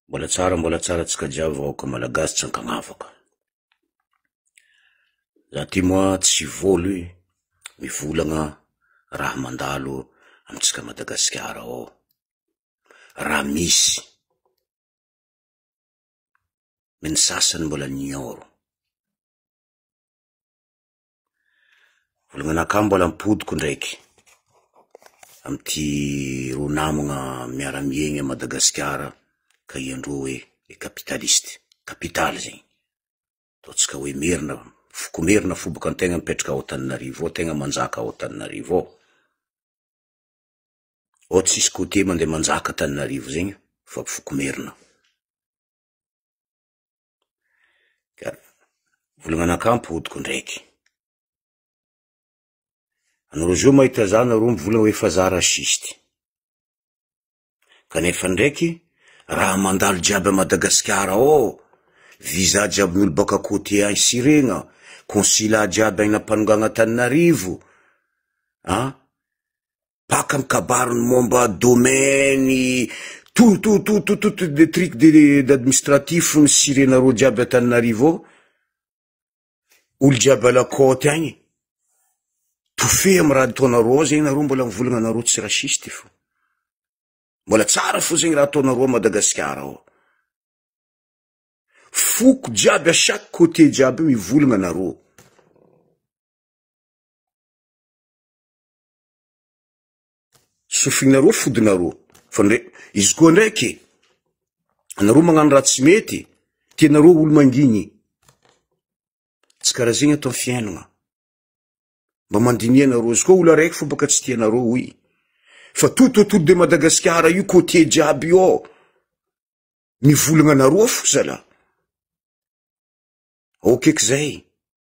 Mbola tsara mbola tsara antsika jiaby vahoaka malagasy tsy ankagnavaka. Za ty moa tsy vôlo e, mivolagna raha mandalo amintsika Madagasikara ao, raha misy, ny sasany mbola nignôro. Volagna mbola mipodiko ndraiky amin'ity roa namagna miara miaigny à Madagasikara ka ianreo hoe les capitalistes, kapitaly zegny, ataontsika hoe merina, foko merina fo boka antegna mipetraka ao Antananarivo ao, tegna manjaka ao Antananarivo ao, ao tsisy côtier mandeha manjaka Antananarivo zegny fa foko merina. Ka vola mananka ampy odiko ndraiky. Anareo zao mahita za nareo mivola hoe fa za raciste. Kanefa ndraiky, raha mandalo jiaby à Madagasikara ao, visa jiaby ny olo baka côté any Siregna, consulat jiaby any Ampanongan'Antananarivo, an, Baka am kabary ny momba domaine tout tout tout tout tout de truc de d'administratif ny sirenareo jiaby Antananarivo ao. Olo jiaby à la côte agny. Tofé am raha ataonareo ao zegny nareo mbola mivolagna nareo tsy raciste fô. Mbola tsara fô zegny raha ataonareo ao Madagasikara ao. Foko jiaby à chaque côté jiaby mivolagna nareo. Sofinareo fodinareo. Fa ndray, izy koa ndraiky, anareo magnano raha tsy mety, tianareo olo mangigny. Tsy karaha zegny ato am fiainagna. Mba mandiniha nareo, izy koa olo araiky fô baka tsy tianareo hoy, fa tout autour de Madagasikara io côtier jiaby io ao, mivolagna anareo fo zala. Ok k'izay.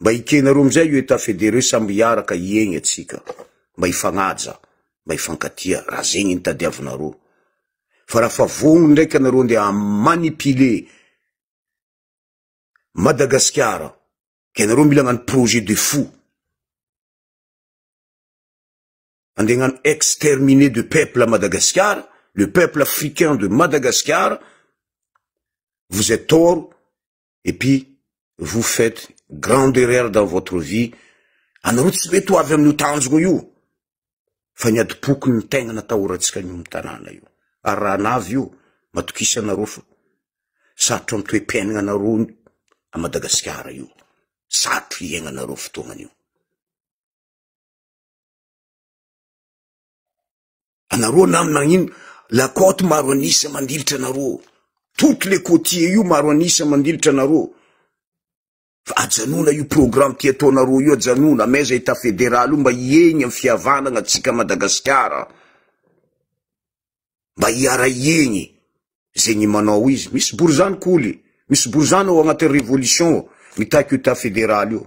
Mba hikena roa amin'izay io état fédéré samby hiaraka hiegny atsika. Mba hifagnaja, mba hifankatia, raha zegny ny tadiavinareo. Fa raha fa vognogno ndraiky anareo ndeha ha-manipuler Madagasikara, ka ianareo mila hagnano projet de fou, andeha hagnano exterminer de peuple à Madagasikara, le peuple africain de Madagasikara, vous êtes tort, et puis vous faites grande erreur dans votre vie, anareo tsy mety ho avy amin'io tanjogna io, fa ny adim-poko ny tegna natahorantsika an'io amin'ny tanàna io, ary raha anavy io, matokisa anareo fa sarotra ny toe-piainagna anareo à Madagasikara io, sarotra hiaignanareo fotoagna an'io. Anareo nam nagnino la côte maro an'isa mandilitra anareo. Toutes les côtiers io maro an'isa mandilitra anareo. Fa ajanona io programme ty ataonareo io ajanona amaiza état fédéral io mba hiegny am fihavanagna tsika Madagasikara. Mba hiara hiegny zegny manao izy. Misy borizano koly, misy borizano ao agnatin'ny révolution ao mitaky io état fédéral io.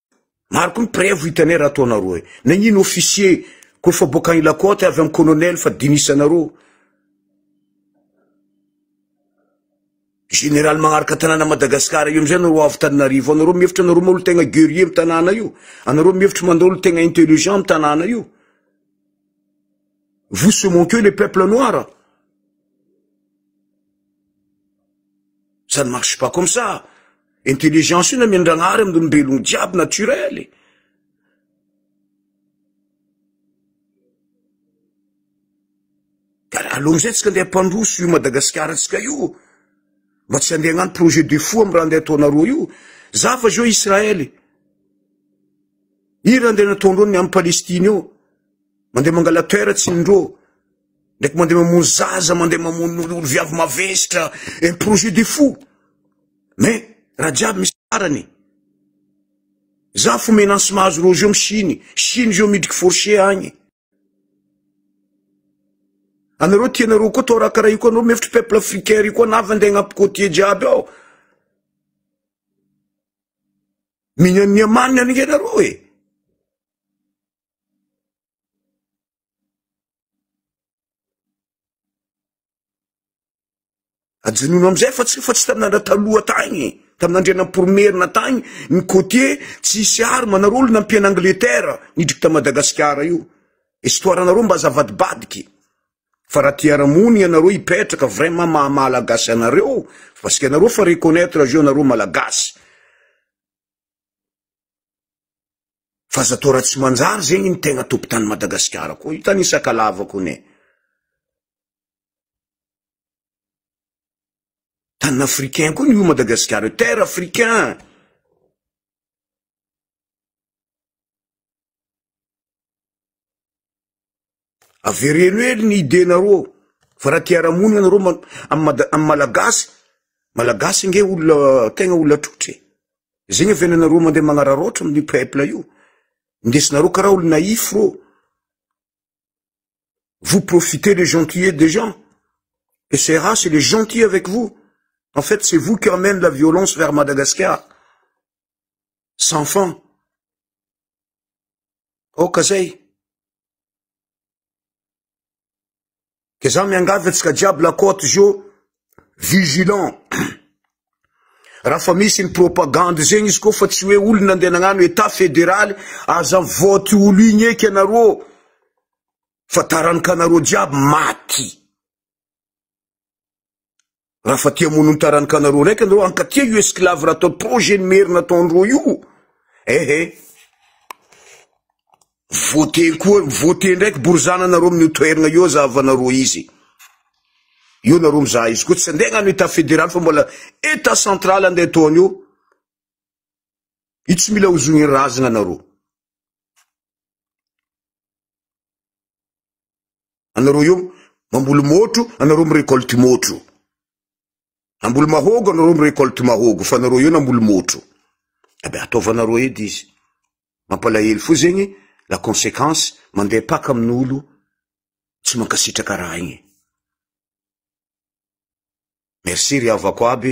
Maro koa ny prevo hitanay raha ataonareo e. Nagnino officier koa fa boaka any lakote avy amin'ny colonel fa dinisanareo. Général magnaraka tanàna Madagascar io amizay anareo avy taninarivo anareo mihevitra anareo moa tegna guerrier am tanàna io anareo mihevitra mandao tegna intelligent am tanàna io vous ce mon que le peuple noir Ça ne marche pas comme ça. Intelligence io na miandragnahary amin'ny olombelogno jiaby naturel e. Allo mizay tsika ndeha pandroso io Madagasikara tsika io. Mba tsy andeha agnano projet de fou amin'ny raha ndeha ataonareo io. Za fa zao Israël e. Ira ndeha nataondreo ny amin'ny Palestine io. Mandeha mangala terre tsy indreo. Ndraiky mandeha mamono zaza, mandeha mamono olo viavy mavestra, un eh, projet de fou. Mais, raha jiaby misy farany. Za fo menansy mahazo Roger am Chine, Chine zao midriky forcé agny. Anareo tianareo koa tao raha karaha io koa anareo mefitry peuple africain ry koa navy andeha agnampy côtier jiaby ao. Mignan'ny amanina ange nareo e. Ajanony amin'izay fa tsy efa tsy tamin'andra taloha tagny, tamin'andriana poromerina tagny ny côtier tsisy arme anareo olona nampian'i Angleterre nidriky ta Madagasikara io. Histoire anareo mba aza avadibadiky. Fa raha te hiara-mony ianareo hipetraka vraiment maha Malagasy anareo parce que anareo efa reconnaitre azy io anareo Malagasy. Fa aza atao raha tsy manjary zegny ny tegna tompon-tany Madagasikara koa. Io tany Sakalava koa ne. Tany africain koa ny Madagasikara, terre africain. Avereno hely ny idénareo ao. Fa raha te hiara-monina nareo ma- am mada- am malagasy, malagasy nge olona tegna olona trotra e. Zegny avy any nareo mandeha magnararaotra amin'ny peuple io. Ndesinareo karaha olo naïf rô. Vous profitez les gentillets des gens. Et ces races, il est gentil avec vous. En fait, c'est vous qui amène la violence vers Madagascar. Sans fin. Aoka zay. Ke za miangavy antsika jiaby la côte zio vigilant. Raha fa misy ny propagande zegny izy ko fa tsy hoe olona andeha nagnano état fédéral aza vote olo igny eky anarô fa taranaka anarô jiaby maty. Raha fa tia mono ny taran'ny kanareo raika nareo ankatia io esclave raha atao projet ny merina ataondreo io. Ehe. Eh. Vote koa, vote ndraiky borizana nareo amin'ny toerana io zahavanareo izy. Io nareo mizaha izy koa tsy andeha agnano état fédéral fa mbola état central andeha ataony io. Io tsy mila hozogny razagna nareo. anareo eo mamboly môtro anareo mirecolte môtro amboly mahogo anareo mirecolte mahogo fa anareo eo namboly môtro abe ataovanareo edy izy mampalahelo fo zegny la conséquence mandeha paka amin'olo tsy mankasitraka raha igny merci ry avako aby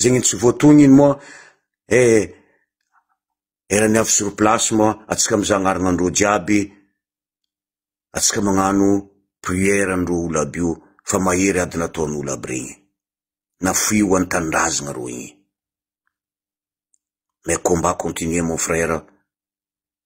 zegny tsy voatogniny moa eh erany avy sur place moa atsika mizaha agnaranandreo jiaby atsika magnano prière andreo olo aby io fa mahery ady nataon'olo aby regny nafoy ho antanindrazagna reo igny mais combat continue mon frère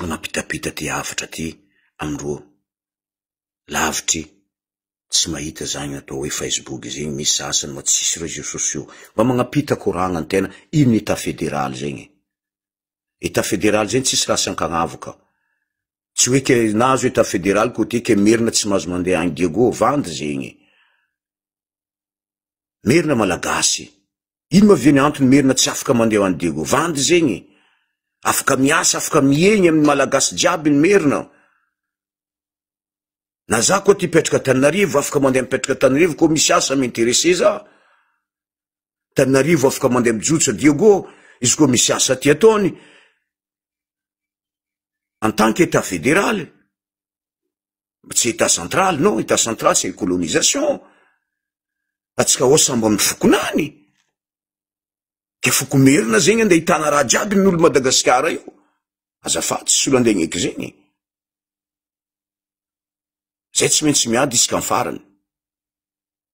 Manampitapita aty avotra aty amin'ireo lavitry tsy mahita izany atao hoe Facebook izany, misy sasany moa tsisy réseaux sociaux. Mba magnampita koragna ny tena, ino ny état fédéral zegny e? État fédéral zegny tsisy raha asan-kagnavo ka. Tsy hoe ke nahazo état fédéral côté ke merina tsy mahazo mandeha any Diego, vandy zegny e! Merina Malagasy, Ino ma ve ny antony merina tsy afaka mandeha ho any Diego? Vandy zegny e! Afaka miasa, afaka miegny amin'ny Malagasy jiaby ny merina. Na za koa ty mpetraka Antananarivo, afaka mandeha mipetraka Antananarivo koa misy asa m'intéresser za. Antananarivo afaka mandeha mijotsa Diego, izy koa misy asa ty ataony. En tant qu'État fédéral, Tsy état central, non, état central c'est colonisation. Fa tsy ka ao sambo amin'ny fokonany. Ka foko merina zegny andeha hitana raha jiaby ny olo Madagasikara io. Azafady tsy solo andeha agneky zegny. Zay tsy maintsy miady isika amin'ny farany.